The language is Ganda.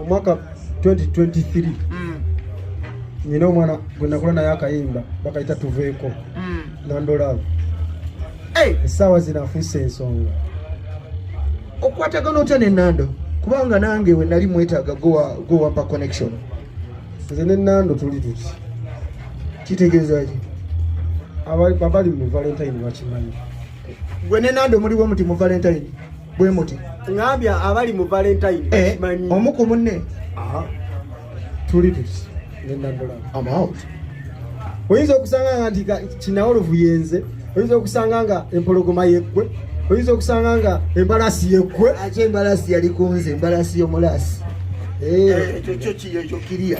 omwaka 2023 nina mm. omwana gwe nakola naye akayimba bakayita tuveeko mm. nandolaavu essaawa zino afuuse ensonga okukwatagana otya ne nando kubanga nange we nali mwetaaga gowampa connection nze ne nando tuli tuti kitegeeza ki abali mu valentine bakimanyi gwe ne nando muliwo muti mu valentine bwe muti ngambya abali mu valentine eh, manyi omu ku munne aha tuli tuti nenda ndola i'm out oyinza okusanga nga nti kinawo luvuyenze oyinza okusanga nga empologoma yeggwe oyinza okusanga nga embalasi yeggwe ate embalasi yali kunze embalasi yomulasi eh, eh, ekyo kiri ekyo kiriya